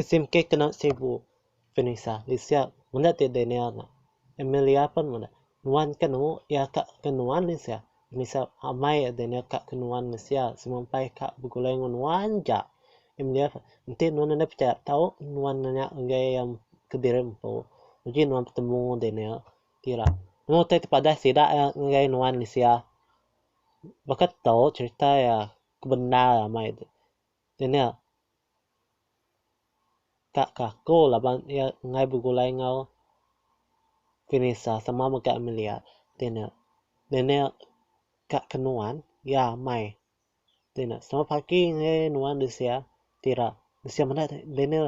Smk kena sibu Vanessa disia meda ti Daniel nya. Amelia pun meda. Nuan ke nemu iya ka ke nuan meh sia. Vanessa amai Daniel ka ke nuan meh sia semua empai ka begulai enggau nuan ja. Amelia pun, enti nuan enda pechaya tau nuan nanya ngagai iya kediri empu. Uji nuan betemu enggau Daniel. Ti ira, nemu utai ti padah sida iya ngagai nuan mensia. Baka tu cherita iya ke bendar amai tu. Dia nya ka ke aku laban iya enggai begulai enggau Vinisa sama mega Amelia. Dia nya, dia nya ka ke nuan iya amai. Dia nya selamat pagi ngagai nuan mensia. Ti ira, mensia meda, dia nya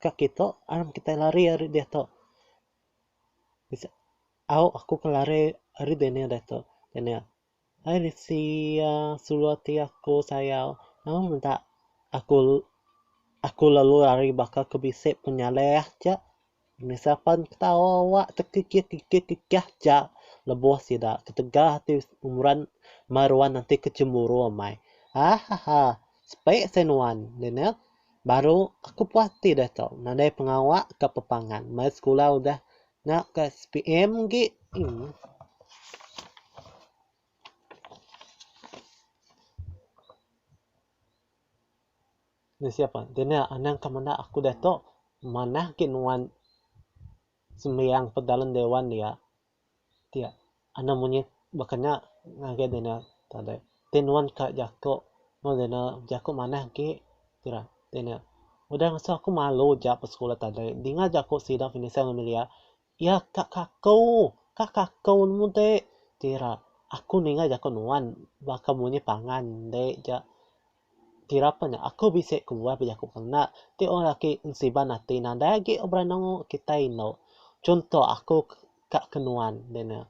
ka kita, aram kitai lari ari diatu. Bisi au aku ngelare ari Daniel ditu. Daniel, Hai Risi iya, sulu ati aku sayau. Nama meda aku aku lalu lari baka aku bisi penyaleh ja. Nisa pan ketawa awa tekikih kikih kikih ja lebuh sida ketegal ati Imran mai ruan enti ke cemburu amai. Ahaha, sepi seh nuan Daniel. Baru aku puas ati deh tu nadai pengawa ka pepangan mai sekula udah nya ka SPM agi anang ka menda aku diatu manah agi nuan sembiang pedalem dewan dia. ti anang monyet bekena ngagai deh nya tadai. Ti nuan ka jako mung deh nya jako manah agi kira deh nya. Udah mesu aku malu ja ke sekula tadai dinga ja ku sida penyesal ngan melia iya ka kaku ka kaku nemu ti kira aku ninga jako nuan baka munyi pangan ende ja. kira pen aku bisi kebuah bejaku pengena ti orang laki siban ati nadai agi beranang kitai endo. Chunto aku ka ke nuan de ne.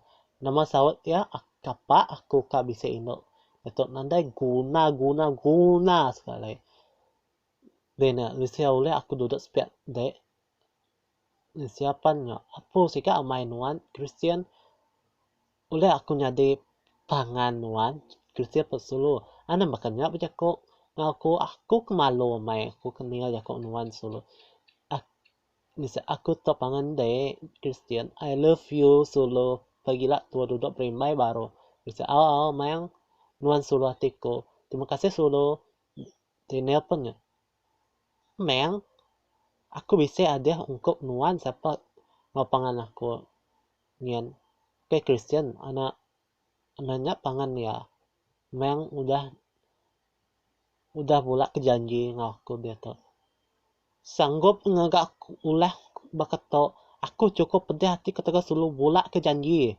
Nama saut iya kapa aku ka bisi endo tok nadai guna guna guna sekali. De ne bisi ulih aku dudok sepiak de. Siapan nya apu siga amai nuan kristian ulih aku nyadi pangan nuan kristian ke sulu anang baka nya bejaku enggau aku aku ke malu amai aku ke ninga jaku nuan sulu aku nise aku tau pangan ende kristian I love you sulu pagila tua dudok berimbai baru nise au au maioh nuan sulu ati ku terima kasih sulu ti nelpon nya. Meng, aku bisi adeh ungkup nuan sapa enggau pangan aku nyin. Ke Kristian ana meh nya pangan iya. Meng udah udah bula ke janji enggau aku diatu. Sanggup ngaga aku ulah baka tu. Aku chukup pedih ati ketegal sulu bula ke janji.